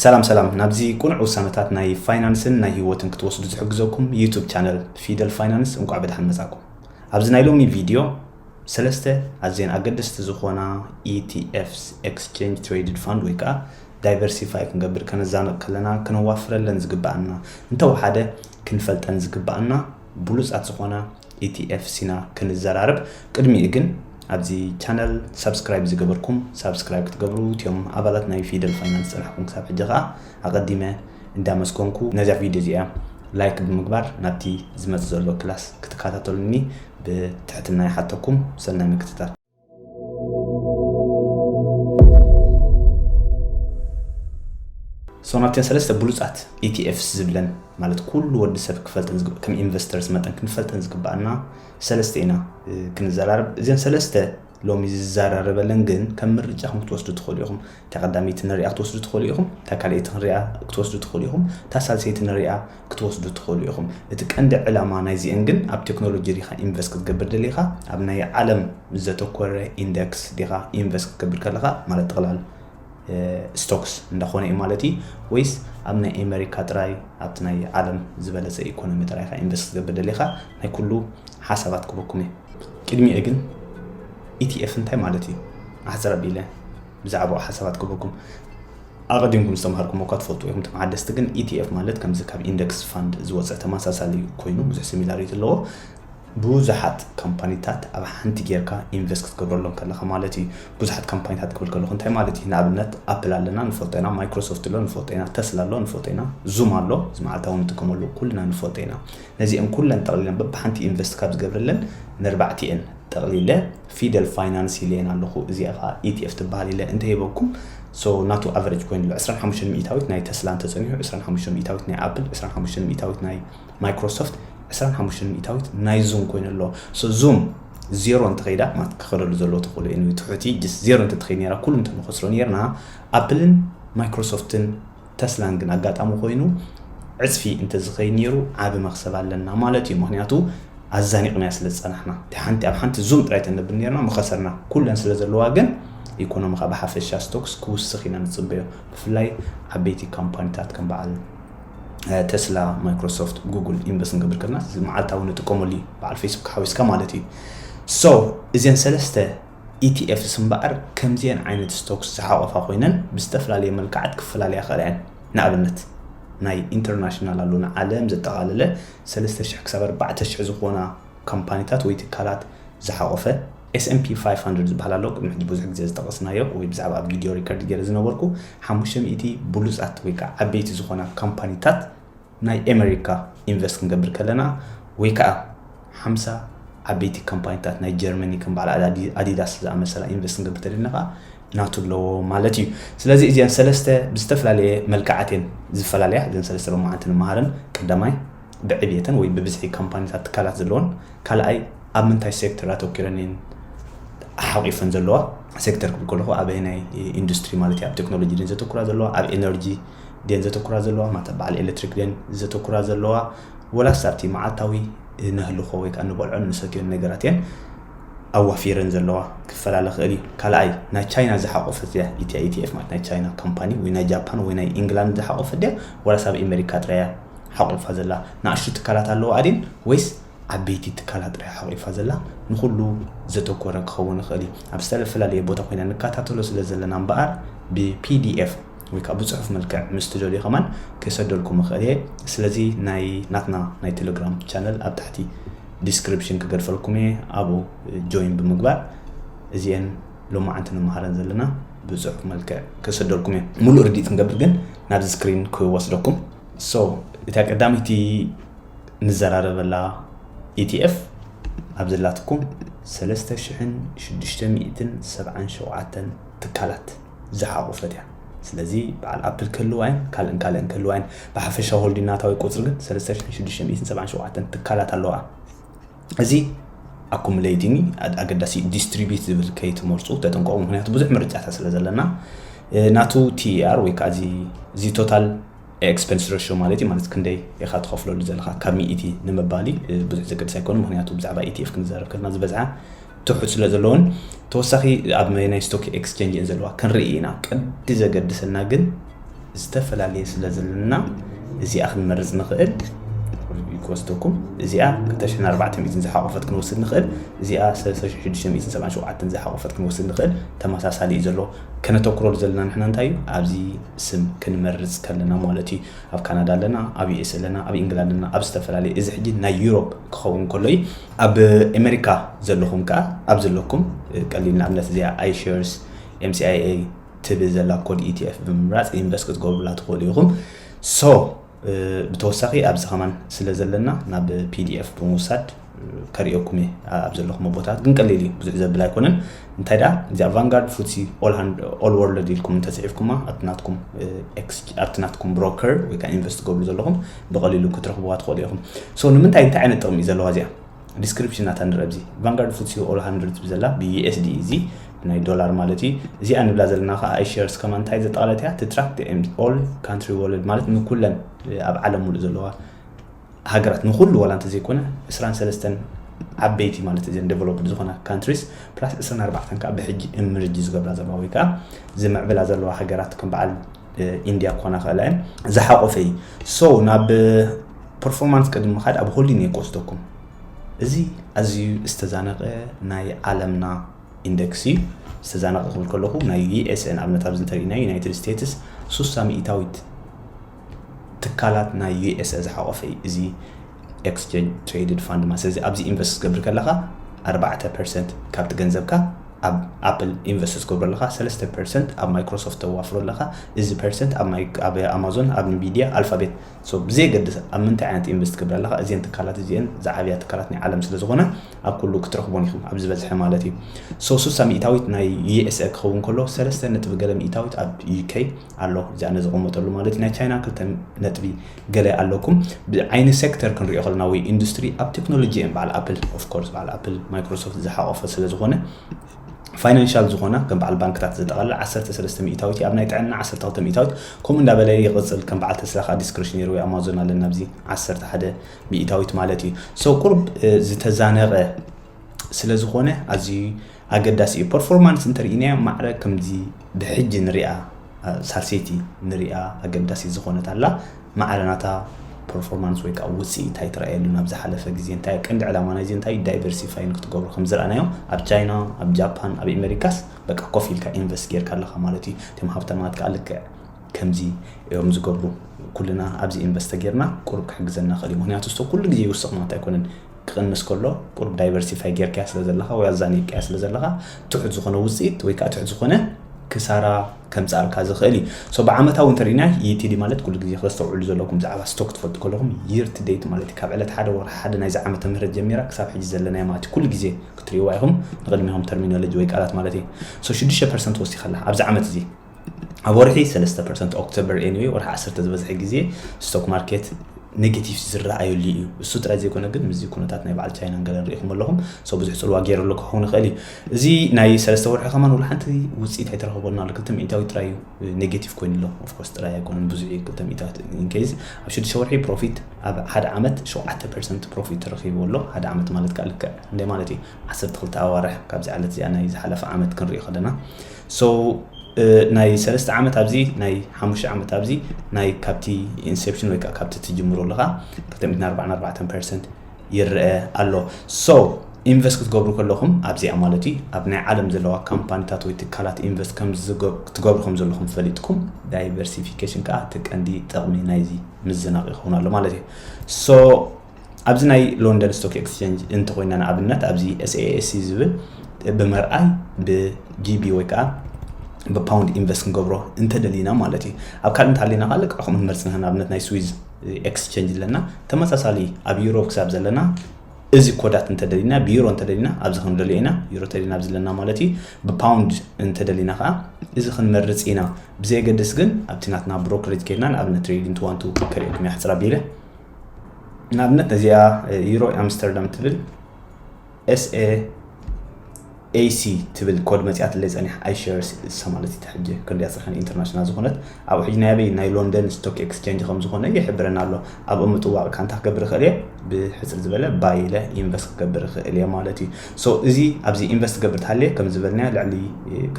ሰላም ሰላም ናብዚ ቁኑዕ ውሳነታት ናይ ፋይናንስን ናይ ሂወትን ክትወስዱ ዝሕግዘኩም ዩቱብ ቻነል ፊደል ፋይናንስ እንቋዕ ብድሓን መጻኩም ኣብዚ ናይ ሎሚ ቪድዮ ሰለስተ ኣዝየን ኣገደስቲ ዝኾና ETFs ኤክስቼንጅ ትሬድድ ፋንድ ወይ ከዓ ዳይቨርሲፋይ ክንገብር ከነዛንቕ ከለና ክነዋፍረለን ዝግባኣና እንተወሓደ ክንፈልጠን ዝግባኣና ብሉጻት ዝኾና ኢቲኤፍ ሲና ክንዘራረብ ቅድሚኡ ግን ኣብዚ ቻነል ሳብስክራይብ ዝገበርኩም ሳብስክራይብ ክትገብሩ እትዮም ኣባላት ናይ ፊደል ፋይናንስ ዝጸናሕኩም ክሳብ ሕጂ ከኣ ኣቐዲመ እንዳመስገንኩ ነዛ ቪድዮ እዚኣ ላይክ ብምግባር ናብቲ ዝመጽእ ዘሎ ክላስ ክትከታተሉኒ ብትሕትና ይሓተኩም ሰናይ ምክትታል ሶናብተን ሰለስተ ብሉፃት ኢቲኤፍስ ዝብለን ማለት ኩሉ ወዲ ሰብ ክፈልጠን ከም ኢንቨስተርስ መጠን ክንፈልጠን ዝግባኣና ሰለስተ ኢና ክንዘራርብ እዚን ሰለስተ ሎሚ ዝዘራረበለን ግን ከም ምርጫ ክንክትወስዱ ትኽእሉ ኢኹም እታ ቀዳመይቲ ንሪኣ ክትወስዱ ትኽእሉ ኢኹም፣ እታ ካልኣይቲ ክንሪኣ ክትወስዱ ትኽእሉ ኢኹም፣ እታ ሳልሰይቲ ንሪኣ ክትወስዱ ትኽእሉ ኢኹም። እቲ ቀንዲ ዕላማ ናይዚኤን ግን ኣብ ቴክኖሎጂ ዲኻ ኢንቨስት ክትገብር ደሊኻ፣ ኣብ ናይ ዓለም ዘተኮረ ኢንደክስ ዲኻ ኢንቨስት ክትገብር ከለኻ ማለት ጥቕላል ስቶክስ እንዳኾነ እዩ ማለት እዩ ወይስ ኣብ ናይ ኤመሪካ ጥራይ ኣብቲ ናይ ዓለም ዝበለጸ ኢኮኖሚ ጥራይ ኢኻ ኢንቨስት ክትገብር ደሊኻ ናይ ኩሉ ሓሳባት ክበኩም እየ። ቅድሚኡ ግን ኢቲኤፍ እንታይ ማለት እዩ ኣሕጽር ኣቢለ። ብዛዕባኡ ሓሳባት ክህበኩም ኣቐዲምኩም ዝተማሃርኩሞ እኳ ትፈልጡ ኢኹም። እቶም ሓደስቲ ግን ETF ማለት ከምዚ ካብ ኢንደክስ ፋንድ ዝወጸ ተመሳሳሊ ኮይኑ ብዙሕ ሲሚላሪቲ ኣለዎ። ብዙሓት ካምፓኒታት ኣብ ሓንቲ ጌርካ ኢንቨስት ክትገብረሎም ከለኻ ማለት እዩ። ብዙሓት ካምፓኒታት ክብል ከለኹ እንታይ ማለት እዩ? ንኣብነት ኣፕል ኣለና ንፈልጦ ኢና፣ ማይክሮሶፍት ኣሎ ንፈልጦ ኢና፣ ተስላ ኣሎ ንፈልጦ ኢና፣ ዙም ኣሎ እዚ መዓልታዊ ንጥቀመሉ ኩልና ንፈልጦ ኢና። ነዚኤን ኩለን ጠቕሊለን በብሓንቲ ኢንቨስት ካብ ዝገብረለን ንኣርባዕቲኤን ጠቕሊለ ፊደል ፋይናንስ ኢለየን ኣለኹ እዚኣ ከኣ ኢቲኤፍ ትበሃል ኢለ እንተ ሂበኩም so ናቱ ኣቨረጅ ኮይኑሎ ዕስራን ሓሙሽተን ሚኢታዊት ናይ ተስላ እንተ ጸኒሑ ዕስራን ሓሙሽተን ሚኢታዊት ናይ ኣፕል ዕስራን ሓሙሽተን ሚኢታዊት ናይ ማይክሮሶፍት ዕስራን ሓሙሽተን ሚኢታዊት ናይ ዙም ኮይኑ ኣሎ so ዙም ዜሮ እንተ ከይዳ ማለት ክኸደሉ ዘለዎ ተኽእሎ እዩ ትሑቲ ጀስት ዜሮ እንተ ትኸይድ ነይራ ኩሉ እንተ ንኸስሮ ነይርና ኣፕልን ማይክሮሶፍትን ተስላን ግን ኣጋጣሚ ኮይኑ ዕጽፊ እንተዝኸይድ ኔሩ ዓቢ መኽሰብ ኣለና ማለት እዩ ምኽንያቱ ኣዛኒቕናዮ ስለ ዝጸናሕና እቲ ሓንቲ ኣብ ሓንቲ ዙም ጥራይ ተነብል ኔርና ምኸሰርና ኩለን ስለ ዘለዋ ግን ኢኮኖምኻ ብሓፈሻ ስቶክስ ክውስኽ ኢና ንጽበዮ ብፍላይ ዓበይቲ ካምፓኒታት ከም በዓል ተስላ ማይክሮሶፍት ጉግል ኢንቨስት ንገብር ከለና መዓልታዊ ንጥቀመሉ እዩ በዓል ፌስቡክ ሓዊስካ ማለት እዩ ሶ እዘን ሰለስተ ኢቲኤፍስ እምበኣር ከምዚኤን ዓይነት ስቶክስ ዝሓቖፋ ኮይነን ብዝተፈላለየ መልክዓት ክፈላለያ ይኽእላ እየን። ንኣብነት ናይ ኢንተርናሽናል ኣሎ ንዓለም ዘጠቓለለ ሰለስተ ሽሕ ክሳብ ኣርባዕተ ሽሕ ዝኾና ካምፓኒታት ወይ ትካላት ዝሓቖፈ፣ ኤስ ኤንድ ፒ ፋይፍ ሃንድረድ ዝበሃል ኣሎ፣ ቅድሚ ሕጂ ብዙሕ ግዜ ዝጠቐስናዮ ወይ ብዛዕባ ኣብ ቪድዮ ሪከርድ ገይረ ዝነበርኩ ሓሙሽተ ሚእቲ ብሉጻት ወይ ከኣ ዓበይቲ ዝኾና ካምፓኒታት፣ ናይ ኤመሪካ ኢንቨስት ክንገብር ከለና ወይ ከኣ ሓምሳ ዓበይቲ ካምፓኒታት ናይ ጀርመኒ ከም በዓል ኣዳዲ- ኣዲዳስ ዝኣመሰላ ኢንቨስት ክንገብር ተደሊና ከኣ ናቱ ኣለዎ ማለት እዩ። ስለዚ እዚኣን ሰለስተ ብዝተፈላለየ መልክዓት እየን ዝፈላለያ። እዘን ሰለስተ ሎማዓንቲ ንመሃረን። ቀዳማይ ብዕብየተን ወይ ብብዝሒ ካምፓኒታት ትካላት ዘለወን። ካልኣይ ኣብ ምንታይ ሴክተር ኣተኲረን እየን ሓቚፈን ዘለዋ። ሴክተር ክብል ከለኹ ኣበየናይ ኢንዱስትሪ ማለት እዩ፣ ኣብ ቴክኖሎጂ ድየን ዘተኩራ ዘለዋ፣ ኣብ ኤነርጂ፣ ድየን ዘተኩራ ዘለዋ ማታ በዓል ኤለትሪክ ድየን ዘተኩራ ዘለዋ ወላስ ኣብቲ መዓልታዊ እነህልኾ ወይ ከኣ እንበልዖን እንሰትዮን ነገራት እየን ኣዋፊረን ዘለዋ ክፈላለ ክእል እዩ ካልኣይ ናይ ቻይና ዝሓቆፈት እያ ኢትያ ኢቲኤፍ ማለት ናይ ቻይና ካምፓኒ ወይ ናይ ጃፓን ወይ ናይ ኢንግላንድ ዝሓቆፈት ድያ ወላስ ኣብ ኤመሪካ ጥራይ እያ ሓቂፋ ዘላ ንኣሽቱ ትካላት ኣለዋ ኣድን ወይስ ዓበይቲ ትካላት ጥራይ ሓቂፋ ዘላ ንኩሉ ዘተኮረ ክኸውን ይኽእል እዩ ኣብ ዝተፈላለየ ቦታ ኮይና ንከታተሎ ስለ ዘለና እምበኣር ብፒዲኤፍ ወይ ከኣ ብጽሑፍ መልክዕ ምስ ትደልዩ ከማን ክሰደልኩም እኽእል እየ ስለዚ ናይ ናትና ናይ ቴለግራም ቻነል ኣብ ታሕቲ ዲስክሪፕሽን ክገድፈልኩም እየ ኣብኡ ጆይን ብምግባር እዚኤን ሎማዓንቲ ንመሃረን ዘለና ብጽሑፍ መልክዕ ክሰደልኩም እየ ሙሉእ ርዲት ክንገብር ግን ናብዚ ስክሪን ክወስደኩም ሶ እታ ቀዳመይቲ ንዘራረበላ ETF ኣብ ዘላትኩም ሰለስተ ሽሕን ሽዱሽተ ሚእትን ሰብዓን ሸውዓተን ትካላት ዝሓቖፈት እያ። ስለዚ በዓል ኣፕል ክህልዋ'የን፣ ካልእን ካልእን ክህልዋ'የን። ብሓፈሻ ሆልዲናታዊ ቁጽሪ ግን ሰለስተ ሽሕን ሽዱሽተ ሚእትን ሰብዓን ሸውዓተን ትካላት ኣለዋኣ። እዚ ኣኩሙለይቲኒ ኣገዳሲ እዩ። ዲስትሪቢዩት ዝብል ከይትመርጹ ተጠንቀቑ፣ ምኽንያቱ ብዙሕ ምርጫታት ስለ ዘለና። ናቱ TER ወይ ከኣ እዚ ቶታል ኤክስፐንስ ረሾ ማለት እዩ ማለት ክንደይ ኢኻ ትኸፍለሉ ዘለኻ ካብ ሚኢቲ ንምባሊ ብዙሕ ዘገድስ ኣይኮኑ ምክንያቱ ብዛዕባ ኢቲኤፍ ክንዛረብ ከለና ዝበዝሓ ትሑት ስለ ዘለዎን ተወሳኺ ኣብ ናይ ስቶክ ኤክስቸንጅ እየን ዘለዋ ክንርኢ ኢና ቀዲ ዘገድሰና ግን ዝተፈላለየ ስለ ዘለና እዚኣ ክንመርፅ ንኽእል ክወስደኩም እዚኣ 2400 ዝሓቆፈት ክንወስድ ንኽእል እዚኣ 3677 ዝሓቆፈት ክንወስድ ንኽእል ተመሳሳሊ እዩ ዘሎ ከነተኩረሉ ዘለና ንሕና እንታይ እዩ ኣብዚ ስም ክንመርጽ ከለና ማለት እዩ ኣብ ካናዳ ኣለና ኣብ ዩኤስ ኣለና ኣብ ኢንግላንድ ኣለና ኣብ ዝተፈላለየ እዚ ሕጂ ናይ ዩሮፕ ክኸውን ከሎ እዩ ኣብ ኣሜሪካ ዘለኹም ከኣ ኣብ ዘለኩም ቀሊል ንኣብነት እዚኣ ኣይሸርስ ኤምሲኣይኤ ትብል ዘላ ኮድ ኢቲኤፍ ብምምራጽ ኢንቨስት ክትገብሩላ ትኽእሉ ኢኹም ሶ ብተወሳኺ ኣብዚ ከማን ስለ ዘለና ናብ ፒዲኤፍ ብምውሳድ ከርእየኩም እየ ኣብ ዘለኹም ቦታት ግን ቀሊል እዩ ብዙሕ ዘብል ኣይኮነን እንታይ ደኣ እዚኣ ቫንጋርድ ፉትሲ ኦል ወርልድ ኢልኩም እንተፅሒፍኩማ ኣብቲ ናትኩም ኣብቲ ናትኩም ብሮከር ወይ ከዓ ኢንቨስት ገብሩ ዘለኹም ብቐሊሉ ክትረኽብዋ ትኽእሉ ኢኹም ሶ ንምንታይ እንታይ ዓይነት ጥቕሚ እዩ ዘለዋ እዚኣ ዲስክሪፕሽን ናታ ንርእ ኣብዚ ቫንጋርድ ፉትሲ ኦል ሃንድርድ ትብል ዘላ ብዩኤስዲ እዚ ናይ ዶላር ማለት እዩ እዚኣ ንብላ ዘለና ከዓ ኣይ ሸርስ ከማ እንታይ ዘጠቓለት እያ ትትራክት ኦል ካንትሪ ወርልድ ማለት ንኩለን ኣብ ዓለም ሙሉእ ዘለዋ ሃገራት ንኩሉ ዋላ እንተዘይኮነ 23 ዓበይቲ ማለት እዘን ዴቨሎፕድ ዝኾና ካንትሪስ ፕላስ 24 ከዓ ብሕጂ እምርጂ ዝገብራ ዘለዋ ወይ ከዓ ዝምዕብላ ዘለዋ ሃገራት ከም በዓል ኢንድያ ክኾና ክእላ እየን ዝሓቆፈ እዩ ሶ ናብ ፐርፎርማንስ ቅድሚ ምኻድ ኣብ ሆሊን እየ ክወስደኩም እዚ ኣዝዩ ዝተዛነቀ ናይ ዓለምና ኢንደክስ እዩ ዝተዛነቀ ክብል ከለኹ ናይ ዩኤስኤን ኣብነት ኣብዚ እንተሪእና ዩናይትድ ስቴትስ ሱሳ ሚእታዊት ትካላት ናይ ዩኤስኤ ዝሓቆፈ እዩ እዚ ኤክስቼንጅ ትሬድድ ፋንድ ማለት ስለዚ ኣብዚ ኢንቨስት ክትገብር ከለኻ ኣርባዕተ ፐርሰንት ካብቲ ገንዘብካ ኣብ ኣፕል ኢንቨስት ትገብሮ ኣለኻ ሰለስተ ፐርሰንት ኣብ ማይክሮሶፍት ተዋፍሮ ኣለኻ እዚ ፐርሰንት ኣብ ኣማዞን ኣብ ንቪድያ ኣልፋቤት ብዘየገድስ ኣብ ምንታይ ዓይነት ኢንቨስት ትገብር ኣለኻ እዚን ትካላት እዚአን ዝዓብያ ትካላት ናይ ዓለም ስለ ዝኾነ ኣብ ኩሉ ክትረኽቦን ኢኹም ኣብ ዝበዝሐ ማለት እዩ ሶ ሱሳ ሚእታዊት ናይ ዩኤስኤ ክኸውን ከሎ ሰለስተ ነጥቢ ገለ ሚእታዊት ኣብ ዩኬ ኣሎ እዚኣ ነዝቐመጠሉ ማለት እዩ ናይ ቻይና ክልተ ነጥቢ ገለ ኣለኩም ብዓይኒ ሴክተር ክንሪኦ ከለና ወይ ኢንዱስትሪ ኣብ ቴክኖሎጂ እየን በዓል ኣፕል ኦፍ ኮርስ በዓል ኣፕል ማይክሮሶፍት ዝሓቆፈ ስለ ዝኾነ ፋይናንሻል ዝኾና ከም በዓል ባንክታት ዘጠቓልል 13 ሚእታዊት ኣብ ናይ ጥዕና 12 ሚእታዊት ከምኡ እንዳበለ ይቕፅል ከም በዓል ተስላ ከዓ ዲስክሬሽነሪ ወይ ኣማዞን ኣለና ኣብዚ 11 ሚእታዊት ማለት እዩ ሰው ቁርብ ዝተዛነቐ ስለ ዝኾነ ኣዝዩ ኣገዳሲ እዩ ፐርፎርማንስ እንተርኢናዮ ማዕረ ከምዚ ብሕጂ ንሪኣ ሳልሰይቲ ንሪኣ ኣገዳሲ ዝኾነት ኣላ ማዕረ ናታ ፐርፎርማንስ ወይ ከዓ ውፅኢት እንታይ ትረኣየሉ ናብ ዝሓለፈ ግዜ እንታይ ቀንዲ ዕላማ ናይዚ እንታይ እዩ ዳይቨርሲፋይን ክትገብሩ ከም ዝረኣናዮ ኣብ ቻይና ኣብ ጃፓን ኣብ ኤሜሪካስ በቃ ኮፍ ኢልካ ኢንቨስት ጌርካ ኣለኻ ማለት እዩ እቶም ሃብታማት ከዓ ልክዕ ከምዚ እዮም ዝገብሩ ኩልና ኣብዚ ኢንቨስተ ጌርና ቁሩብ ክሕግዘና ክእል እዩ ምክንያቱ ስቶ ኩሉ ግዜ ይውስኽ ማለት ኣይኮነን ክቕንስ ከሎ ቁሩብ ዳይቨርሲፋይ ጌርካያ ስለ ዘለኻ ወይ ኣዛኒቕካያ ስለ ዘለኻ ትሑት ዝኾነ ውጽኢት ወይ ከኣ ትሑት ዝኾነ ክሳራ ከምጽኣልካ ዝኽእል እዩ ሶ ብዓመታዊ እንተ ርኢና ኢቲዲ ማለት ኩሉ ግዜ ከስተውዕሉ ዘለኩም ብዛዕባ ስቶክ ትፈልጡ ከለኹም ይር ቲ ደይት ማለት እዩ ካብ ዕለት ሓደ ወርሒ ሓደ ናይዚ ዓመተ ምህረት ጀሚራ ክሳብ ሕጂ ዘለናዮ ማለት እዩ ኩሉ ግዜ ክትርእይዋ ኢኹም ንቕድሚኹም ተርሚኖሎጂ ወይ ቃላት ማለት እዩ ሶ ሽዱሽተ ፐርሰንት ወሲኻ ኣላ ኣብዚ ዓመት እዚ ኣብ ወርሒ ሰለስተ ፐርሰንት ኦክቶበር ኤንዌ ወርሒ ዓሰርተ ዝበዝሐ ግዜ ስቶክ ማርኬት ኔጌቲቭ ዝረኣየሉ እዩ እሱ ጥራይ ዘይኮነ ግን ምስዚ ኩነታት ናይ በዓል ቻይናን ገለን ርኢኹም ኣለኹም ሰው ብዙሕ ፅልዋ ገይረሉ ክኸውን ይኽእል እዩ እዚ ናይ ሰለስተ ወርሒ ከማን ውሉ ሓንቲ ውፅኢት ኣይተረኸበሉ ኣሎ ክልተ ሚእታዊ ጥራይ እዩ ኔጌቲቭ ኮይኑ ኣሎ ኦፍኮርስ ጥራይ ኣይኮነን ብዙሕ እዩ ክልተ ሚእታዊ ኢንኬዝ ኣብ ሽዱሽተ ወርሒ ፕሮፊት ኣብ ሓደ ዓመት ሸውዓተ ፐርሰንት ፕሮፊት ተረኪቡ ኣሎ ሓደ ዓመት ማለት ከዓ ልክዕ እንታይ ማለት እዩ ዓሰርተ ክልተ ኣዋርሕ ካብዚ ዕለት እዚኣ ናይ ዝሓለፈ ዓመት ክንሪኦ ከለና so ናይ ሰለስተ ዓመት ኣብዚ ናይ ሓሙሽተ ዓመት ኣብዚ ናይ ካብቲ ኢንሴፕሽን ወይ ከዓ ካብቲ ትጅምሮ ኣለካ ክልተ ሚእትን ኣርባዕን ኣርባዕተን ፐርሰንት ይረአ ኣሎ so ኢንቨስት ክትገብሩ ከለኹም ኣብዚኣ ማለት እዩ ኣብ ናይ ዓለም ዘለዋ ካምፓኒታት ወይ ትካላት ኢንቨስት ትገብሩ ከም ዘለኹም ፈሊጥኩም ዳይቨርሲፊኬሽን ከዓ እቲ ቀንዲ ጥቕሚ ናይዚ ምዝናቕ ይኸውን ኣሎ ማለት እዩ ሶ ኣብዚ ናይ ሎንደን ስቶክ ኤክስቸንጅ እንተኮይና ንኣብነት ኣብዚ ኤስኤኤስሲ ዝብል ብምርኣይ ብጂቢ ወይ ከዓ ብፓውንድ ኢንቨስት ክንገብሮ እንተደሊና ማለት እዩ ኣብ ካልእ እንተሃሊና ከዓ ልክዕ ከምኡ ንመርፅ ንህና ኣብነት ናይ ስዊዝ ኤክስቸንጅ ኣለና ተመሳሳሊ ኣብ ዩሮ ክሳብ ዘለና እዚ ኮዳት እንተደሊና ብዩሮ እንተደሊና ኣብዚ ክንደልዮ ኢና ዩሮ ተደሊና ኣብዚ ኣለና ማለት እዩ ብፓውንድ እንተደሊና ከዓ እዚ ክንመርፅ ኢና ብዘየገድስ ግን ኣብቲ ናትና ብሮክሬጅ ከድና ንኣብነት ትሬዲንግ ትዋንቱ ከሪኦኩም እያ ሕፅር ኣቢለ ንኣብነት እዚኣ ዩሮ ኣምስተርዳም ትብል ኤስኤ ኤሲ ትብል ኮድ መፅያት ለይ ፀኒሕ ኣይሸር ሰማለት እቲ ሕጂ ክንሪኣ ፅርሕን ኢንተርናሽናል ዝኾነት ኣብ ሕጂ ናይ ኣበይ ናይ ሎንደን ስቶክ ኤክስቼንጅ ከም ዝኾነ ይሕብረና ኣሎ ኣብኡ ምጥዋቕ ካ እንታይ ክገብር ይኽእል እየ ብሕፅር ዝበለ ባይ ኢለ ኢንቨስት ክገብር ይኽእል እየ ማለት እዩ ሶ እዚ ኣብዚ ኢንቨስት ትገብር ተሃልየ ከም ዝበልና ልዕሊ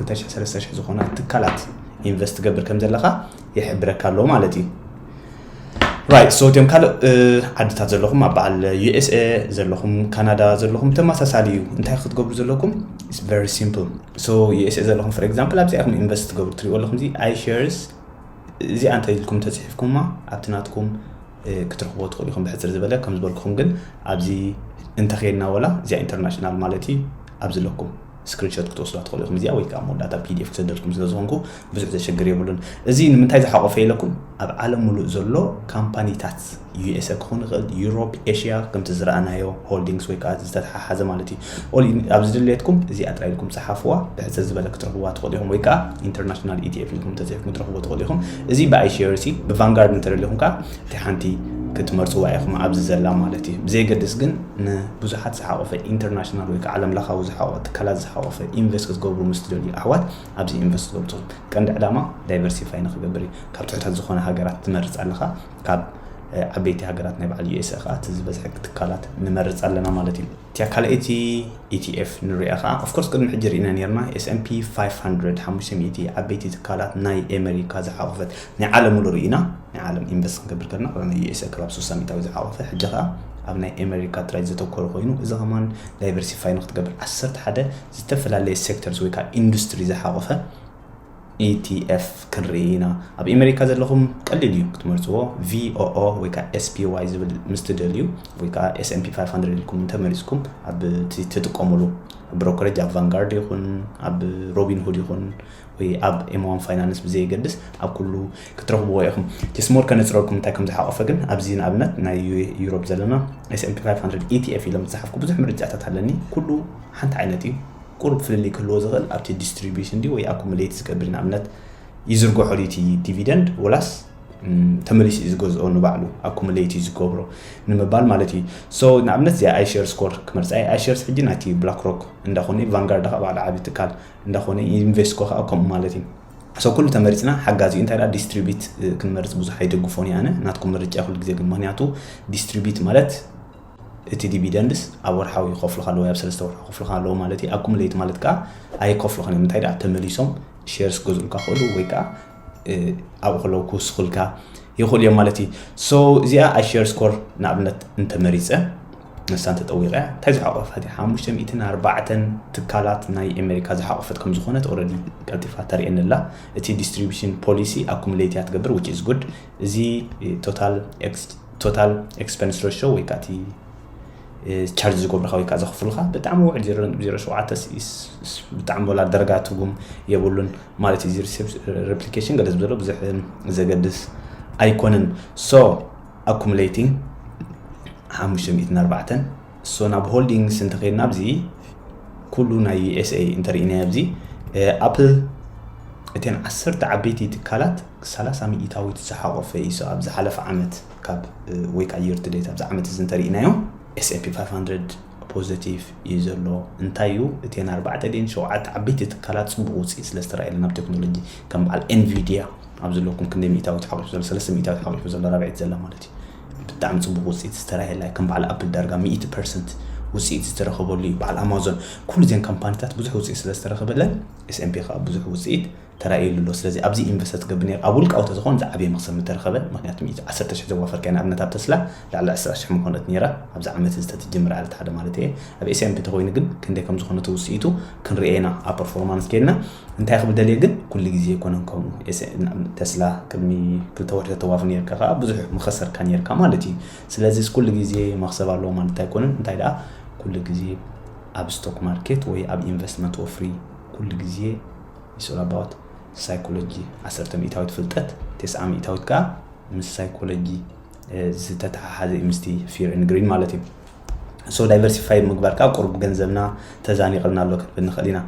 230 ዝኾና ትካላት ኢንቨስት ትገብር ከም ዘለካ ይሕብረካ ኣሎ ማለት እዩ ራይት ሶ እትም ካልእ ዓድታት ዘለኹም ኣብ በዓል ዩኤስኤ ዘለኹም ካናዳ ዘለኹም ተመሳሳሊ እዩ እንታይ ክትገብሩ ዘለኩም ኢስ ቨሪ ሲምፕል ሶ ዩኤስኤ ዘለኹም ፎር ኤግዛምፕል ኣብዚኣ ኢኹም ኢንቨስት ትገብሩ ትሪእዎ ኣለኹም እዚ ኣይ ሸርስ እዚኣ እንተ ኢልኩም ተፅሒፍኩማ ኣብቲ ናትኩም ክትረኽቦ ትኽእሉ ኢኹም ብሕፅር ዝበለ ከም ዝበልኩኹም ግን ኣብዚ እንተኸየድና ወላ እዚኣ ኢንተርናሽናል ማለት እዩ ኣብ ዝለኩም ስክሪንሾት ክትወስዳ ትኽእሉ ኢኹም እዚኣ ወይ ከዓ መወዳእታ ፒዲኤፍ ክሰደልኩም ስለ ዝኾንኩ ብዙሕ ዘሸግር የብሉን እዚ ንምንታይ ዝሓቆፈ ኢለኩም ኣብ ዓለም ሙሉእ ዘሎ ካምፓኒታት ዩኤስኤ ክኾን ይኽእል ዩሮፕ ኤሽያ ከምቲ ዝረኣናዮ ሆልዲንግስ ወይ ከዓ ዝተተሓሓዘ ማለት እዩ ኦል ኣብዚ ድሌትኩም እዚኣ ጥራይ ኢልኩም ፀሓፍዋ ብሕፅር ዝበለ ክትረኽብዋ ትኽእሉ ኢኹም ወይ ከዓ ኢንተርናሽናል ኢቲኤፍ ኢልኩም ተፅሒፍኩም ትረኽቡ ትኽእሉ ኢኹም እዚ ብኣይሲርሲ ብቫንጋርድ እንተደሊኹም ከዓ እቲ ሓንቲ ክትመርጽዋ ኢኹም ኣብዚ ዘላ ማለት እዩ። ብዘየገድስ ግን ንብዙሓት ዝሓቖፈ ኢንተርናሽናል ወይ ከኣ ዓለም ለኻዊ ዝሓቖ ትካላት ዝሓቖፈ ኢንቨስት ክትገብሩ ምስ ትደልዩ ኣሕዋት ኣብዚ ኢንቨስት ክትገብሩ ትኽእሉ። ቀንዲ ዕላማ ዳይቨርሲፋይ ንኽገብር እዩ። ካብ ትሑታት ዝኾና ሃገራት ትመርጽ ኣለኻ ካብ ዓበይቲ ሃገራት ናይ በዓል USA ከኣ እቲ ዝበዝሐ ትካላት ንመርጽ ኣለና ማለት እዩ። እቲያ ካልኣይቲ ETF ንርእያ ከኣ of course ቅድሚ ሕጂ ርኢና ኔርና S&P 500 ሓሙሽተ ሚእቲ ዓበይቲ ትካላት ናይ ኤመሪካ ዝሓቖፈት ናይ ዓለም ሙሉ ሪኢና ናይ ዓለም ኢንቨስት ክንገብር ከለና ኣብ ናይ USA ክባብ ሱሳ ሚታዊ ዝዓቆፈ ሕጂ ከኣ ኣብ ናይ ኤመሪካ ጥራይ ዘተኮረ ኮይኑ እዚ ከማን ዳይቨርሲፋይ ንክትገብር ዓሰርተ ሓደ ዝተፈላለየ ሴክተርስ ወይ ከኣ ኢንዱስትሪ ዝሓቆፈ ETF ክንርኢ ኢና ኣብ ኤመሪካ ዘለኹም ቀሊል እዩ ክትመርጽዎ VOO ወይ ከኣ SPY ዝብል ምስ ትደልዩ ወይ ከኣ S&P 500 ኢልኩም እንተመሪጽኩም ኣብ ትጥቀሙሉ ብሮከሬጅ ኣብ ቫንጋርድ ይኹን ኣብ ሮቢን ሁድ ይኹን ወይ ኣብ ኤምዋን ፋይናንስ ብዘየገድስ ኣብ ኩሉ ክትረኽብዎ ኢኹም። ቲስሞር ከነጽረልኩም እንታይ ከም ዝሓቖፈ ግን ኣብዚ ንኣብነት ናይ ዩሮፕ ዘለና ኤስኤምፒ 500 ኢቲኤፍ ኢሎም ዝጸሓፍኩ ብዙሕ ምርጫታት ኣለኒ። ኩሉ ሓንቲ ዓይነት እዩ። ቁሩብ ፍልልይ ክህልዎ ዝኽእል ኣብቲ ዲስትሪቢዩሽን ድዩ ወይ ኣኩሙሌት ዝገብር ንኣብነት ይዝርግሖ ድዩ እቲ ዲቪደንድ ወላስ ተመሊሱ እዩ ዝገዝኦ ንባዕሉ ኣኩሙሌት እዩ ዝገብሮ ንምባል ማለት እዩ ሶ ንኣብነት እዚኣ ኣይሸርስ ኮር ክመርፃ ኣይሸርስ ሕጂ ናይቲ ብላክሮክ እንዳኾነ ቫንጋርድ ከዓ ባዕሉ ዓብዪ ትካል እንዳኾነ ዩኒቨስኮ ከኣ ከምኡ ማለት እዩ so ኩሉ ተመሪጽና ሓጋዚ እዩ እንታይ ደኣ ዲስትሪቢት ክንመርጽ ብዙሕ ኣይደግፎን እየ ኣነ ናትኩም ምርጫ ኩሉ ግዜ ግን ምክንያቱ ዲስትሪቢት ማለት እቲ ዲቪደንድስ ኣብ ወርሓዊ ይኸፍሉካ ኣለዎ ኣብ ሰለስተ ወርሒ ይኸፍሉካ ኣለዎ ማለት እዩ ኣኩሙሌት ማለት ከዓ ኣይከፍሉካን እዮም እንታይ ደኣ ተመሊሶም ሼርስ ገዝኡልካ ክእሉ ወይ ከዓ ኣብኡ ከለዉ ክውስኹልካ ይኽእሉ እዮም ማለት እዩ ሶ እዚኣ ኣሸር ስኮር ንኣብነት እንተመሪፀ ንሳ እንተጠዊቐ እንታይ ዝሓቆፈት እዩ ሓሙሽተ ሚእትን ኣርባዕተን ትካላት ናይ ኣሜሪካ ዝሓቆፈት ከም ዝኾነት ኦረዲ ቀልጢፋ ተርእየኒ ኣላ እቲ ዲስትሪቢሽን ፖሊሲ ኣኩሙሌት እያ ትገብር ዊች ኢዝ ጉድ እዚ ቶታል ኤክስፐንስ ረሾ ወይ ከዓ እቲ ቻርጅ ዝገብሩካ ወይ ከዓ ዘኽፍሉካ ብጣዕሚ ውዕል ዜሮ ሸውዓተ ብጣዕሚ ወላ ደረጋ ትርጉም የብሉን ማለት እዩ እዚ ሪፕሊኬሽን ገለ ዝበሎ ብዙሕ ዘገድስ ኣይኮነን ሶ ኣኩሙሌቲንግ ሓሙሽተ ሚእትን ኣርባዕተን ሶ ናብ ሆልዲንግስ እንተኸይድና ኣብዚ ኩሉ ናይ ዩኤስኤ እንተርኢናዮ ኣብዚ ኣፕል እተን ዓሰርተ ዓበይቲ ትካላት ሰላሳ ሚእታዊት ዝሓቆፈ እዩ ሶ ኣብ ዝሓለፈ ዓመት ካብ ወይ ከዓ የርትዴት ኣብዚ ዓመት እዚ እንተርኢናዮ ኤስኤፒ 500 ፖዘቲቭ እዩ ዘሎ እንታይ እዩ እተን ኣርባዕተ ድየን ሸውዓተ ዓበይቲ ትካላት ጽቡቕ ውጽኢት ስለ ዝተራእየለን ኣብ ቴክኖሎጂ ከም በዓል ኤንቪድያ ኣብ ዘለኩም ክንደይ ሚእታዊት ሓቂፉ ዘሎ ሰለስተ ሚእታዊት ሓቂፉ ዘሎ ራብዒት ዘላ ማለት እዩ ብጣዕሚ ጽቡቕ ውጽኢት ዝተራእየላ እዩ ከም በዓል ኣፕል ዳርጋ ሚእቲ ፐርሰንት ውጽኢት ዝተረኸበሉ እዩ በዓል ኣማዞን ኩሉ እዚን ካምፓኒታት ብዙሕ ውጽኢት ስለ ዝተረኸበለን ኤስኤምፒ ከዓ ብዙሕ ውጽኢት ተራእዩሉ ኣሎ ስለዚ ኣብዚ እዩ ኢንቨስት ዝገብር ነይሩ ኣብ ውልቃዊ ተዝኾን ዝዓበየ መኽሰብ ምተረኸበ ምኽንያቱ ሚእቲ ዓሰርተ ሽሕ ዘዋፈርካያ ንኣብነት ኣብ ተስላ ልዕሊ ዕስራ ሽሕ ምኾነት ነይራ ኣብዚ ዓመት እዚ ተትጅምር ዕለት ሓደ ማለት እየ ኣብ ኤስያ እንተተኾይኑ ግን ክንደይ ከምዝኾነቱ ውፅኢቱ ክንሪኦ ኢና ኣብ ፐርፎርማንስ ከይድና እንታይ ክብል ደልየ ግን ኩሉ ግዜ ኣይኮነን ከምኡ ተስላ ቅድሚ ክልተ ወርሒ ተተዋፍ ነርካ ከዓ ብዙሕ ምኸሰርካ ነርካ ማለት እዩ ስለዚ ኩሉ ግዜ መኽሰብ ኣለዎ ማለት ኣይኮነን እንታይ ደኣ ኩሉ ግዜ ኣብ ስቶክ ማርኬት ወይ ኣብ ኢንቨስትመንት ወፍሪ ኩሉ ግዜ ኢትስ ኦል ኣባውት ሳይኮሎጂ ዓሰርተ ሚእታዊት ፍልጠት ቴስዓ ሚእታዊት ከኣ ምስ ሳይኮሎጂ ዝተተሓሓዘ እዩ ምስቲ ፊር ን ግሪን ማለት እዩ ሶ ዳይቨርሲፋይ ምግባር ከዓ ቁርብ ገንዘብና ተዛኒቐልና ኣሎ ክንብል ንኽእል ኢና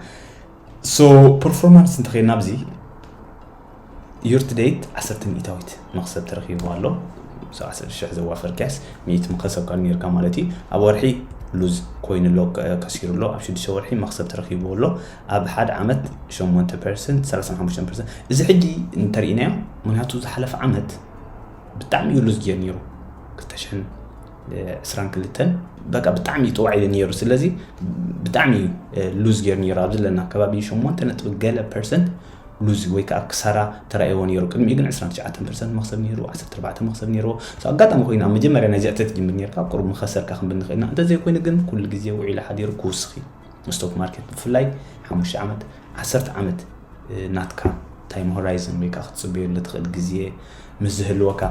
ሶ ፐርፎርማንስ እንተኸይድና ኣብዚ Year to date ዓሰርተ ሚእታዊት መኽሰብ ተረኺብዎ ኣሎ። ሰው ዓሰርተ ሽሕ ዘዋፈር ኪያስ ሚእቲ መኸሰብ ካብ ኔርካ ማለት እዩ። ኣብ ወርሒ ሉዝ ኮይኑ ኣሎ ከ- ከሲሩ ኣሎ። ኣብ ሽዱሽተ ወርሒ መኽሰብ ተረኺብዎ ኣሎ። ኣብ ሓደ ዓመት ሸሞንተ ፐርሰንት፣ ሰላሳን ሓሙሽተን ፐርሰንት። እዚ ሕጂ እንተርኢናዮ ምክንያቱ ዝሓለፈ ዓመት ብጣዕሚ እዩ ሉዝ ጌር ነይሩ ክልተ ሽሕን ዕስራን ክልተን በቃ ብጣዕሚ እዩ ጥዋዕ እዩ ነይሩ ስለዚ ብጣዕሚ እዩ ሉዝ ጌር ነይሩ ኣብ ዘለና ከባቢ ሸሞንተ ነጥቢ ገለ ፐርሰንት ሉዝ ወይ ከኣ ክሳራ ተራእይዎ ነይሩ። ቅድሚኡ ግን ዕስራን ትሽዓተን ፐርሰንት መኽሰብ ነይሩ፣ ዓሰርተ ኣርባዕተ መኽሰብ ነይርዎ። So ኣጋጣሚ ኮይኑ ኣብ መጀመርያ ናይዚ ዕጽፊ ትጅምር ነይርካ ኣብ ቁሩብ ምኸሰርካ ክንብል ንኽእል ኢና። እንተ ዘይኮይኑ ግን ኩሉ ግዜ ውዒሉ ሓዲሩ ክውስኽ እዩ። ስቶክ ማርኬት ብፍላይ ሓሙሽተ ዓመት ዓሰርተ ዓመት ናትካ ታይም ሆራይዝን ወይ ከኣ ክትጽበየሉ ትኽእል ግዜ ምስ ዝህልወካ።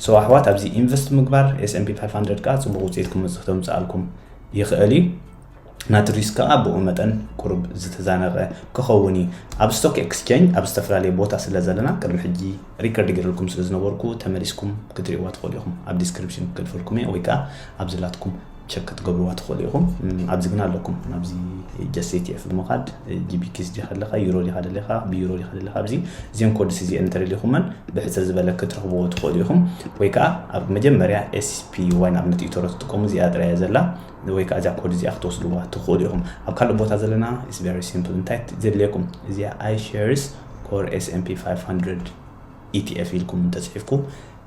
So ኣሕዋት ኣብዚ ኢንቨስት ምግባር S&P 500 ከኣ ጽቡቕ ውጽኢት ክመጽእ ክተምጽኣልኩም ይኽእል እዩ። ናትሪስ ከኣ ብኡ መጠን ቁሩብ ዝተዛነቐ ክኸውን እዩ። ኣብ ስቶክ ኤክስቸንጅ ኣብ ዝተፈላለየ ቦታ ስለ ዘለና ቅድሚ ሕጂ ሪከርድ ጌረልኩም ስለ ዝነበርኩ ተመሊስኩም ክትርእይዋ ትኽእሉ ኢኹም። ኣብ ዲስክሪፕሽን ክልፈልኩም እየ ወይ ከኣ ኣብዚ ናትኩም ቸክ ክትገብርዋ ትኽእሉ ኢኹም። ኣብዚ ግን ኣለኩም ኣብዚ ጀስ ኤቲኤፍ ብምኻድ ጂቢኪስ ዲኻ ኣለኻ ዩሮ ዲኻ ደለኻ ብዩሮ ዲኻ ደለኻ ኣብዚ እዚኦም ኮድስ እዚኤን እንተደሊኹመን ብሕፅር ዝበለ ክትረኽብዎ ትኽእሉ ኢኹም ወይ ከኣ ኣብ መጀመርያ ኤስፒ ዋን ኣብነት ኢቶሮ ትጥቀሙ እዚኣ ጥራይ እያ ዘላ ወይ ከኣ እዚኣ ኮድ እዚኣ ክትወስድዋ ትኽእሉ ኢኹም። ኣብ ካልእ ቦታ ዘለና it's very simple እንታይ ዘድልየኩም እዚኣ iShares Core S and P five hundred ETF ኢልኩም እንተጽሒፍኩ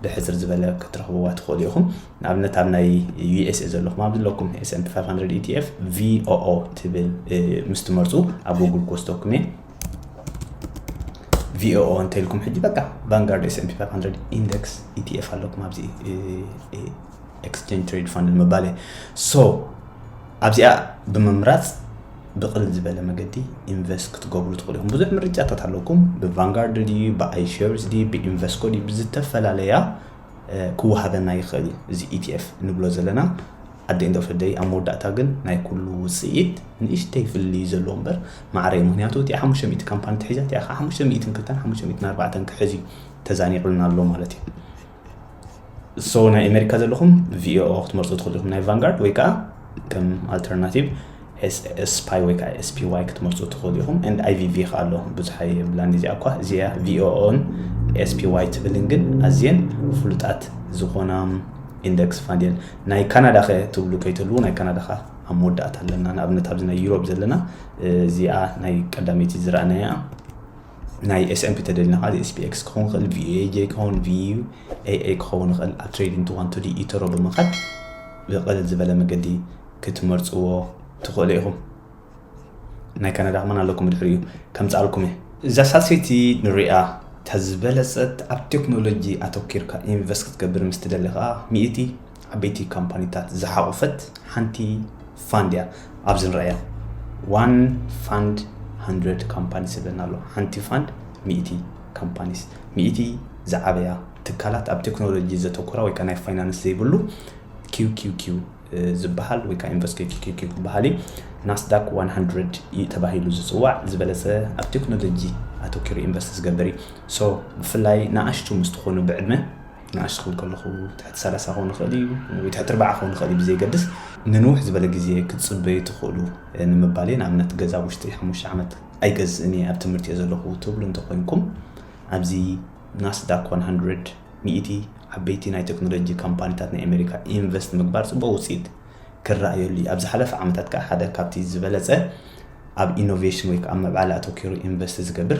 ብሕጽር ዝበለ ክትረኽብዋ ትኽእሉ ኢኹም። ንኣብነት ኣብ ናይ US እየ ዘለኹም ኣብ ዝለኩም S and P five hundred ETF VOO ትብል ምስ ትመርጹ ኣብ Google ክወስደኩም እየ። ቪኦኦ እንተልኩም ሕጂ በቃ ቫንጋርድ ኤስኤምፒ 500 ኢንደክስ ኢቲኤፍ ኣለኩም ኣብዚ ኤክስቼንጅ ትሬድ ፋንድ ንምባል እየ ሶ ኣብዚኣ ብምምራፅ ብቕልል ዝበለ መገዲ ኢንቨስት ክትገብሩ ትኽእሉ ኢኹም ብዙሕ ምርጫታት ኣለኩም ብቫንጋርድ ድዩ ብኣይሸርስ ድዩ ብኢንቨስኮ ድዩ ብዝተፈላለያ ክወሃበና ይኽእል እዩ እዚ ኢቲኤፍ ንብሎ ዘለና ኣደ ኢንዶ ፍደይ ኣብ መወዳእታ ግን ናይ ኩሉ ውፅኢት ንእሽተይ ፍሊ ዘለዎ እምበር ማዕረ እዩ ምክንያቱ እቲ ሓሙሽተ ሚእቲ ካምፓኒ ትሒዛ እቲኣ ከዓ ሓሙሽተ ሚእትን ክልተን ሓሙሽተ ሚእትን ኣርባዕተን ክሕዝ እዩ ተዛኒቑልና ኣሎ ማለት እዩ ሶ ናይ ኣሜሪካ ዘለኹም ቪኦኦ ክትመርፁ ትኽእሉ ኢኹም ናይ ቫንጋርድ ወይ ከዓ ከም ኣልተርናቲቭ ስፓይ ወይ ከዓ ስፒዋይ ክትመርፁ ትኽእሉ ኢኹም ን ኣይቪቪ ከዓ ኣሎ ብዙሕ የብላን እዚኣ እኳ እዚኣ ቪኦኦን ስፒዋይ ትብልን ግን ኣዝየን ፍሉጣት ዝኾና ኢንደክስ ፋንድ እየን ናይ ካናዳ ከ ትብሉ ከይትህልዉ ናይ ካናዳ ከዓ ኣብ መወዳእታ ኣለና ንኣብነት ኣብዚ ናይ ዩሮብ ዘለና እዚኣ ናይ ቀዳመይቲ ዝረኣናያ ናይ ኤስኤምፒ ተደሊና ከዓ ኤስፒኤክስ ክኸውን ይኽእል ቪኤጄ ክኸውን ቪኤኤ ክኸውን ይኽእል ኣብ ትሬዲንግ ትዋን ቱዲ ኢተሮ ብምኻድ ብቕልል ዝበለ መገዲ ክትመርፅዎ ትኽእሉ ኢኹም ናይ ካናዳ ከማን ኣለኩም ብድሕሪኡ ከምፃልኩም እየ እዛ ሳልሰይቲ ንሪኣ ተዝበለፀት ኣብ ቴክኖሎጂ ኣተኪርካ ኢንቨስት ክትገብር ምስ ትደሊ ከዓ ሚእቲ ዓበይቲ ካምፓኒታት ዝሓቖፈት ሓንቲ ፋንድ እያ ኣብዚ ንርእያ ዋን ፋንድ ሃንድረድ ካምፓኒስ ዝብለና ኣሎ ሓንቲ ፋንድ ሚእቲ ካምፓኒስ ሚእቲ ዝዓበያ ትካላት ኣብ ቴክኖሎጂ ዘተኮራ ወይ ከዓ ናይ ፋይናንስ ዘይብሉ QQQ ዝበሃል ወይ ከዓ ኢንቨስት QQQ ዝበሃል እዩ ናስዳክ 100 እዩ ተባሂሉ ዝፅዋዕ ዝበለፀ ኣብ ቴክኖሎጂ ኣተኪሩ ኢንቨስት ዝገብር እዩ ሶ ብፍላይ ንኣሽቱ ምስ ትኾኑ ብዕድመ ንኣሽቱ ክኾኑ ከለዉ ትሕቲ ሰላሳ ክኾን ይኽእል እዩ ወይ ትሕቲ ኣርባዓ ክኾን ይኽእል እዩ ብዘየገድስ ንንውሕ ዝበለ ግዜ ክትጽበዩ ትኽእሉ ንምባል እየ። ንኣብነት ገዛ ኣብ ውሽጢ ሓሙሽተ ዓመት ኣይገዝእን እየ ኣብ ትምህርቲ እየ ዘለኹ ትብሉ እንተኾይንኩም ኣብዚ ናስዳክ ዋን ሃንድረድ፣ ሚእቲ፣ ዓበይቲ ናይ ተክኖሎጂ ካምፓኒታት ናይ ኣሜሪካ ኢንቨስት ምግባር ጽቡቕ ውጽኢት ክረኣየሉ እዩ። ኣብ ዝሓለፈ ዓመታት ከኣ ሓደ ካብቲ ዝበለጸ ኣብ ኢኖቬሽን ወይ ከኣ ኣብ ምዕባለ ኣተኲሩ ኢንቨስት ዝገብር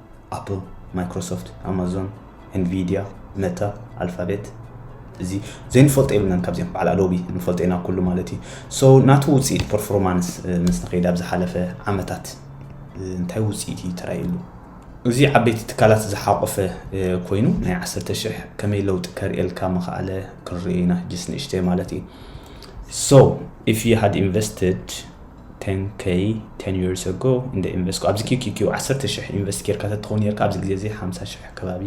ኣፕል፣ ማይክሮሶፍት፣ ኣማዞን፣ ኤንቪድያ፣ መታ፣ ኣልፋቤት እዚ ዘይንፈልጦ የብልናን ካብዚኦም በዓል ኣዶቢ ንፈልጦ ኢና ኩሉ ማለት እዩ ሶ ናቱ ውፅኢት ፐርፎርማንስ ምስ ንኸይድ ኣብ ዝሓለፈ ዓመታት እንታይ ውፅኢት እዩ ተራይሉ እዚ ዓበይቲ ትካላት ዝሓቆፈ ኮይኑ ናይ ዓሰርተ ሽሕ ከመይ ለውጢ ከርእየልካ ምኽኣለ ክንርኢ ኢና ጅስ ንእሽተይ ማለት እዩ ሶ ኢፍ ዩ ሃድ ኢንቨስትድ ቴን ከይ ቴን ይርስ ኣጎ እንደ ኢንቨስት ኣብዚ ኪኪኪ ዓሰርተ ሽሕ ኢንቨስት ጌርካ ተትኸውን ኔርካ ኣብዚ ግዜ እዚ ሓምሳ ሽሕ ከባቢ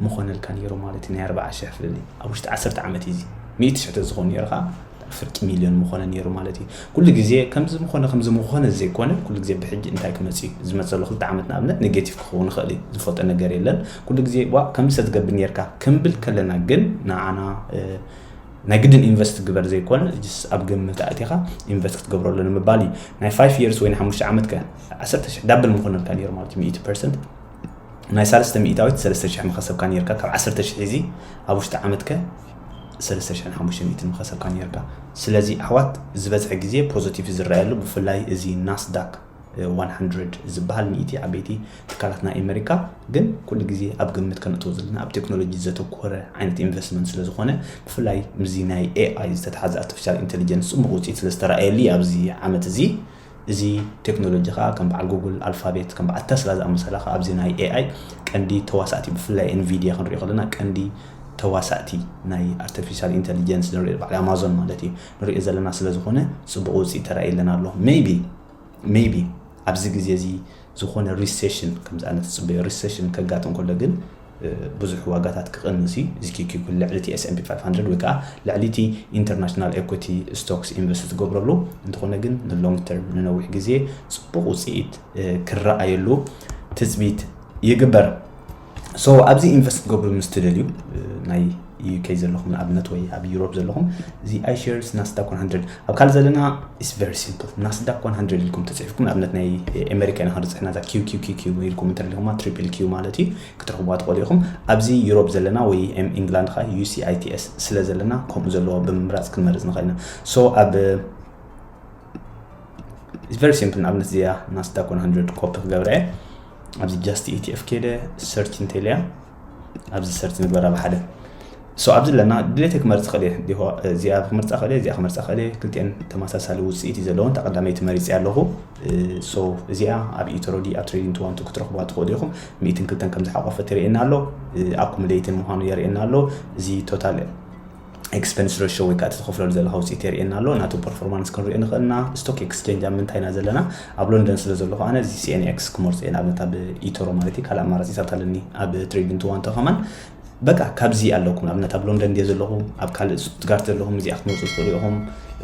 ምኾነልካ ኔሩ ማለት ናይ ኣርብዓ ሽሕ ፍልልይ ኣብ ውሽጢ ዓሰርተ ዓመት እዚ ሚእቲ ሽሕ ተዝኾን ኔርካ ፍርቂ ሚልዮን ምኾነ ኔሩ ማለት እዩ ኩሉ ግዜ ከምዚ ምኾነ ከምዚ ምኾነ ዘይኮነ ኩሉ ግዜ ብሕጂ እንታይ ክመጽእ እዩ ዝመጸሉ ክልተ ዓመት ንኣብነት ኔጌቲቭ ክኸውን ይኽእል እዩ ዝፈልጦ ነገር የለን ኩሉ ግዜ ዋ ከምዚ ሰትገብር ኔርካ ክንብል ከለና ግን ንዓና ናይ ግድን ኢንቨስት ግበር ዘይኮነ ጅስ ኣብ ግምት ኣእቲኻ ኢንቨስት ክትገብረሉ ንምባል እዩ ናይ ፋይፍ የርስ ወይ ንሓሙሽተ ዓመት ከ ዓሰርተ ሽሕ ዳብል ምኾነልካ ነይሩ ማለት እዩ ሚእቲ ፐርሰንት ናይ ሳለስተ ሚእታዊት ሰለስተ ሽሕ ምኸሰብካ ነይርካ ካብ ዓሰርተ ሽሕ እዚ ኣብ ውሽጢ ዓመት ከ ሰለስተ ሽሕን ሓሙሽተ ሚእትን ምኸሰብካ ነይርካ ስለዚ ኣሕዋት ዝበዝሐ ግዜ ፖዘቲቭ ዝረኣየሉ ብፍላይ እዚ ናስዳክ ዋን ሃንድረድ ዝበሃል ሚእቲ ዓበይቲ ትካላት ናይ ኣመሪካ ግን ኩሉ ግዜ ኣብ ግምት ከነእትዎ ዘለና ኣብ ቴክኖሎጂ ዘተኮረ ዓይነት ኢንቨስትመንት ስለ ዝኾነ ብፍላይ ምስዚ ናይ ኤኣይ ዝተትሓዘ ኣርቲፊሻል ኢንተሊጀንስ ጽቡቕ ውጽኢት ስለ ዝተራእየሉ እዩ ኣብዚ ዓመት እዚ እዚ ቴክኖሎጂ ከዓ ከም በዓል ጉግል ኣልፋቤት ከም በዓል ተስላ ዝኣመሰላ ከዓ ኣብዚ ናይ ኤኣይ ቀንዲ ተዋሳእቲ ብፍላይ ኤንቪድያ ክንሪኦ ከለና ቀንዲ ተዋሳእቲ ናይ ኣርቲፊሻል ኢንተሊጀንስ ንሪኦ በዓል ኣማዞን ማለት እዩ ንሪኦ ዘለና ስለ ዝኾነ ጽቡቕ ውጽኢት ተራእየለን ኣሎ ሜይቢ ሜይቢ ኣብዚ ግዜ እዚ ዝኾነ ሪሴሽን ከምዚ ኣነ ትጽበዮ ሪሴሽን ከጋጥም ከሎ ግን ብዙሕ ዋጋታት ክቕንስ እዩ እዚ ኪኪኩ ልዕሊ እቲ ኤስኤምፒ 500 ወይ ከዓ ልዕሊ እቲ ኢንተርናሽናል ኤኩቲ ስቶክስ ኢንቨስት ዝገብረሉ እንተኾነ ግን ንሎንግ ተርም ንነዊሕ ግዜ ፅቡቕ ውፅኢት ክረኣየሉ ትፅቢት ይግበር So ኣብዚ ኢንቨስት ክትገብሩ ምስ ትደልዩ ናይ UK ዘለኹም ንኣብነት ወይ ኣብ ዩሮፕ ዘለኹም እዚ iShares ናስዳክ 100 ኣብ ካልእ ዘለና ኢስ ቨሪ ሲምፕል ናስዳክ 100 ኢልኩም ተፅሒፍኩም ንኣብነት ናይ ኣሜሪካ ኢና ክንፅሕና እዛ ኪውኪውኪኪ ኢልኩም እንተሪኢኹማ ትሪፕል ኪው ማለት እዩ ክትረኽቡዋ ትኽእሉ ኢኹም ኣብዚ ዩሮፕ ዘለና ወይ ኤም ኢንግላንድ ከዓ UCITS ስለ ዘለና ከምኡ ዘለዎ ብምምራፅ ክንመርፅ ንኽእል ኢና ሶ ኣብ ኢስ ቨሪ ሲምፕል ንኣብነት እዚኣ ናስዳክ 100 ኮፒ ክገብረ እየ ኣብዚ ጃስቲ ኢቲኤፍ ከይደ ሰርች እንተልያ ኣብዚ ሰርች ንግበራ ብሓደ ሶ ኣብዚ ኣለና ድሌተ ክመርፅ ክእል እየ እዚኣ ክመርፃ ክእል እዚኣ ክመርፃ ክእል እየ ክልቲአን ተመሳሳሊ ውፅኢት እዩ ዘለዎን ተቀዳመይቲ መሪፅ ኣለኹ ሶ እዚኣ ኣብ ኢትሮዲ ኣብ ትሬዲንግ ትዋንቱ ክትረኽቧ ትኽእሉ ኢኹም ሚእትን ክልተን ከም ዝሓቆፈት የርእየና ኣሎ ኣኩሙሌይትን ምዃኑ የርእየና ኣሎ እዚ ቶታል ኤክስፐንስ ረሾ ወይ ከዓ እቲ ትኸፍለሉ ዘለካ ውፅኢት የርእየና ኣሎ ናቱ ፐርፎርማንስ ክንሪኦ ንኽእል እና ስቶክ ኤክስቼንጅ ኣብ ምንታይ ኢና ዘለና ኣብ ሎንደን ስለ ዘለኹ ኣነ እዚ ሲኤንኤክስ ክመርፆ እየ ንኣብነት ኣብ ኢቶሮ ማለት እዩ ካልእ ኣማራፂታት ኣለኒ ኣብ ትሬዲንግ ትዋንቶ ከማን በቃ ካብዚ ኣለኩም ንኣብነት ኣብ ሎንደን ድየ ዘለኹ ኣብ ካልእ ስቱትጋርት ዘለኹም እዚኣ ክትመርፁ ትኽእሉ ኢኹም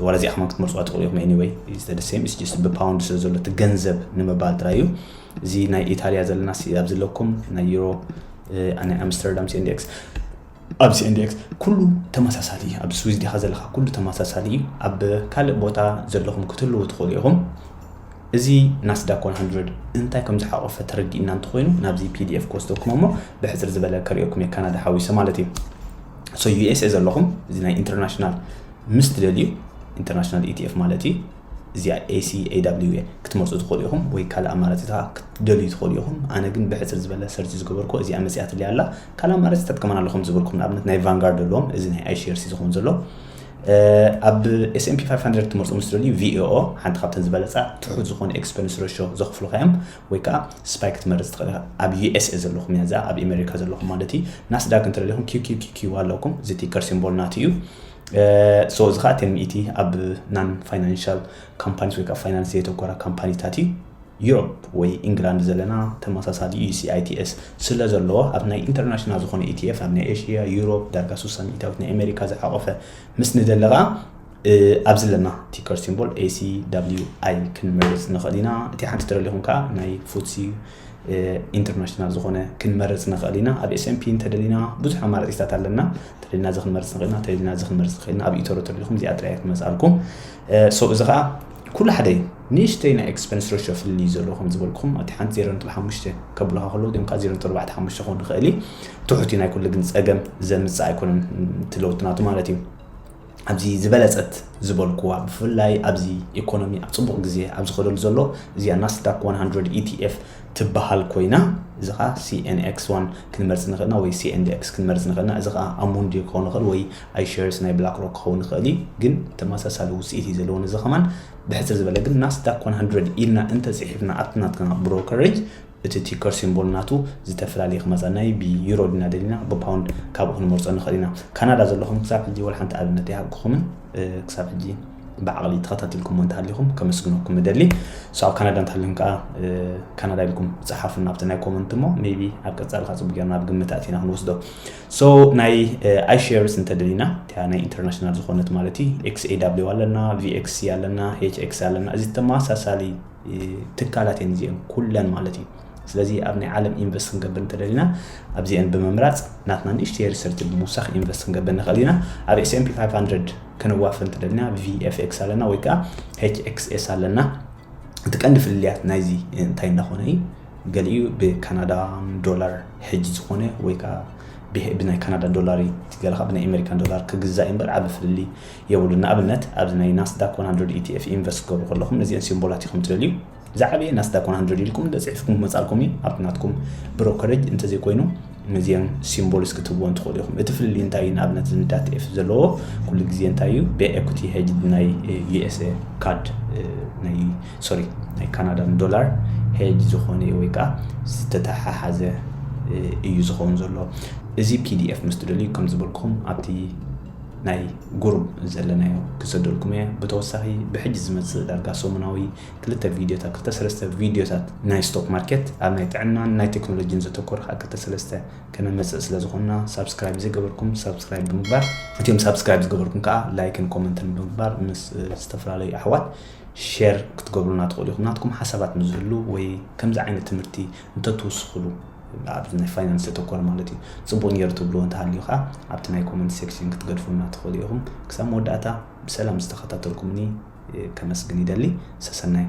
ዋላ እዚኣ ከማን ክትመርፅዋ ትኽእሉ ኢኹም ኤኒወይ ዝተደሰም ስጅስት ብፓውንድ ስለ ዘሎ እቲ ገንዘብ ንምባል ጥራይ እዩ እዚ ናይ ኢታልያ ዘለና ኣብ ዘለኩም ናይ ዩሮ ናይ ኣምስተርዳም ሲንዴክስ ኣብ CNDX ኩሉ ተመሳሳሊ እዩ። ኣብ ስዊዝ ዲኻ ዘለኻ ኩሉ ተመሳሳሊ እዩ። ኣብ ካልእ ቦታ ዘለኹም ክትህልዉ ትኽእሉ ኢኹም። እዚ ናስዳክ 100 እንታይ ከም ዝሓቆፈ ተረዲእና እንተኾይኑ ናብዚ ፒዲኤፍ ክወስደኩም እሞ ብሕፅር ዝበለ ከሪኦኩም እየ ካናዳ ሓዊሰ ማለት እዩ። ሶ ዩኤስኤ ዘለኹም እዚ ናይ ኢንተርናሽናል ምስ ትደልዩ ኢንተርናሽናል ኢቲኤፍ ማለት እዩ እዚኣ ACAWA ክትመርጹ ትኽእሉ ኢኹም ወይ ካልእ ኣማራጺታ ክትደልዩ ትኽእሉ ኢኹም። ኣነ ግን ብሕጽር ዝበለ ሰርች ዝገበርኩ እዚኣ መጺኣትለይ ኣላ። ካልእ ኣማራጺ ተጥቀመን ኣለኹም ዝበልኩም ንኣብነት ናይ ቫንጋርድ ኣለዎም እዚ ናይ iShares እዩ ዝኸውን ዘሎ። ኣብ S&P 500 ክትመርጹ ምስ ትደልዩ VAO ሓንቲ ካብተን ዝበለጻ ትሑት ዝኾነ ኤክስፐንስ ረሾ ዘኽፍሉኻ እዮም ወይ ከኣ ስፓይ ክትመርጽ ትኽእል ኢኻ። ኣብ USA ዘለኹም እያ እዚኣ ኣብ ኣሜሪካ ዘለኹም ማለት እዩ። ናስዳግ እንተደሊኹም QQQQ ኣለኩም እዚ ቲከር ሲምቦል ናቱ እዩ። ሶ እዚ ከዓ እቲ ሚእቲ ኣብ ናን ፋይናንሻል ካምፓኒስ ወይ ከዓ ፋይናንስ ዘየተኮራ ካምፓኒታት እዩ ዩሮፕ ወይ ኢንግላንድ ዘለና ተመሳሳሊ እዩ ሲኣይቲኤስ ስለ ዘለዎ ኣብ ናይ ኢንተርናሽናል ዝኾነ ኢቲኤፍ ኣብ ናይ ኤሽያ ዩሮፕ ዳርጋ ሱሳ ሚእታዊት ናይ ኣሜሪካ ዝሓቆፈ ምስ ንደሊ ከዓ ኣብዚ ኣለና ቲከር ሲምቦል ኤሲ ዳብሊዩ ኣይ ክንመርፅ ንኽእል ኢና እቲ ሓንቲ ትረሊኹም ከዓ ናይ ፉትሲ ኢንተርናሽናል ዝኾነ ክንመርፅ ንኽእል ኢና። ኣብ ኤስኤምፒ እንተደሊና ብዙሕ ኣማራፂታት ኣለና። እንተደሊና እዚ ክንመርፅ ንኽእል ኢና፣ እንተደሊና እዚ ክንመርፅ ንኽእል ኢና። ኣብ ኢቶሮ ተደሊኹም እዚኣ ጥራይ ክትመፅኣልኩም ሶ እዚ ከዓ ኩሉ ሓደ እዩ። ንእሽተይ ናይ ኤክስፐንስ ረሾ ፍልልይ እዩ ዘለዎ ከም ዝበልኩም ኣብቲ ሓንቲ ዜሮ ነጥቢ ሓሙሽተ ከብሉኻ ከለዉ እዚኦም ከዓ ዜሮ ነጥቢ ኣርባዕተ ሓሙሽተ ክኸውን ይኽእል እዩ። ትሑት እዩ ናይ ኩሉ ግን ፀገም ዘምፅእ ኣይኮነን እቲ ለውጢ ናቱ ማለት እዩ። ኣብዚ ዝበለጸት ዝበልኩዋ ብፍላይ ኣብዚ ኢኮኖሚ ኣብ ጽቡቕ ግዜ ኣብ ዝኸደሉ ዘሎ እዚኣ ናስዳክ 100 ETF ትበሃል ኮይና እዚ ከዓ ሲኤንኤክስ ዋን ክንመርፅ ንኽእልና ወይ ሲኤንዲኤክስ ክንመርፅ ንኽእልና እዚ ከዓ ኣሙንዲ ክኸውን ይኽእል ወይ ኣይሸርስ ናይ ብላክ ሮክ ክኸውን ይኽእል እዩ ግን ተመሳሳሊ ውፅኢት እዩ ዘለዎን እዚ ከማን ብሕፅር ዝበለ ግን ናስዳክ 100 ኢልና እንተፅሒፍና ኣብቲ ናትና ብሮከሬጅ እቲ ቲከር ሲምቦል ናቱ ዝተፈላልየ ክመጻ ናይ ብ ዩሮ ዲና ደሊና ብ ፓውንድ ካብኡ ክንመርጾ ንክእል ኢና ካናዳ ዘለኹም ክሳብ ሕጂ ወላ ሓንቲ ኣብነት ኣይሃብኩኹምን ክሳብ ሕጂ ብዓቕሊ ተኸታቲልኩሞ እንተሃሊኹም ከመስግነኩም እደሊ ሶ ኣብ ካናዳ እንተሃሊኹም ከኣ ካናዳ ኢልኩም ጽሓፉና ኣብቲ ናይ ኮመንት እሞ ሜቢ ኣብ ቀጻሊ ከኣ ጽቡቅ ጌርና ኣብ ግምት ኣእቲና ክንወስዶ ሶ ናይ ኣይሼርስ እንተደሊና እቲያ ናይ ኢንተርናሽናል ዝኾነት ማለት እዩ ኤክስኤዳብሊው ኣለና ቪኤክሲ ኣለና ኤችኤክሲ ኣለና እዚ ተመሳሳሊ ትካላት እየን እዚኤን ኩለን ማለት እዩ ስለዚ ኣብ ናይ ዓለም ኢንቨስት ክንገብር እንተደሊና ኣብዚኤን ብምምራፅ ናትና ንእሽተይ ሪሰርቲ ብምውሳኽ ኢንቨስት ክንገብር ንኽእል ኢና ኣብ ኤስኤምፒ 500 ክንዋፈር እንተደሊና ቪኤፍኤክስ ኣለና ወይ ከዓ ኤችኤክስኤስ ኣለና እቲ ቀንዲ ፍልልያት ናይዚ እንታይ እንዳኾነ እዩ ገሊኡ ብካናዳ ዶላር ሕጂ ዝኾነ ወይ ከዓ ብናይ ካናዳ ዶላር ገለ ካብ ብናይ ኣሜሪካን ዶላር ክግዛእ እምበር ዓብ ፍልልይ የብሉን። ንኣብነት ኣብዚ ናይ ናስዳክ ዋን ሃንድረድ ETF ኢንቨስት ክትገብሩ ከለኹም ነዚኤን ሲምቦላት ኢኹም ትደልዩ። ዝዓበየ ናስዳክ ዋን ሃንድረድ ኢልኩም እንተጽሒፍኩም ክመጻልኩም እዩ። ኣብቲ ናትኩም ብሮከረጅ እንተዘይኮይኑ ነዚኤን ሲምቦልስ ክትህብዎን ትኽእሉ ኢኹም። እቲ ፍልልይ እንታይ እዩ? ንኣብነት እዚ ንዳት ኤፍ ዘለዎ ኩሉ ግዜ እንታይ እዩ? ብኤኩቲ ሄጅ ናይ ዩኤስኤ ካድ ናይ ሶሪ ናይ ካናዳን ዶላር ሄጅ ዝኾነ እዩ ወይ ከዓ ዝተተሓሓዘ እዩ ዝኸውን ዘሎ። እዚ ፒዲኤፍ ምስ ትደልዩ ከም ዝበልኩም ኣብቲ ናይ ጉሩም ዘለናዮ ክሰደልኩም እየ ብተወሳኺ ብሕጂ ዝመጽእ ዳርጋ ሰሙናዊ ክልተ ቪድዮታት ክልተ ሰለስተ ቪድዮታት ናይ ስቶክ ማርኬት ኣብ ናይ ጥዕናን ናይ ቴክኖሎጂን ዘተኮረ ከኣ ክልተ ሰለስተ ከነመጽእ ስለ ዝኾንና ሳብስክራይብ ዘይገበርኩም ሳብስክራይብ ብምግባር እቲኦም ሳብስክራይብ ዝገበርኩም ከኣ ላይክን ኮመንትን ብምግባር ምስ ዝተፈላለዩ ኣሕዋት ሼር ክትገብሩልና ትኽእሉ ኢኹም ናትኩም ሓሳባት ምስ ዝህሉ ወይ ከምዚ ዓይነት ትምህርቲ እንተትውስኹሉ ኣብዚ ናይ ፋይናንስ ዘተኮረ ማለት እዩ ጽቡቅ ኔሩ ትብልዎ እንተሃልዩ ከኣ ኣብቲ ናይ ኮመንት ሴክሽን ክትገድፉልና ትኽእሉ ኢኹም ክሳብ መወዳእታ ብሰላም ዝተኸታተልኩምኒ ከመስግን ይደሊ ሰሰናዩ።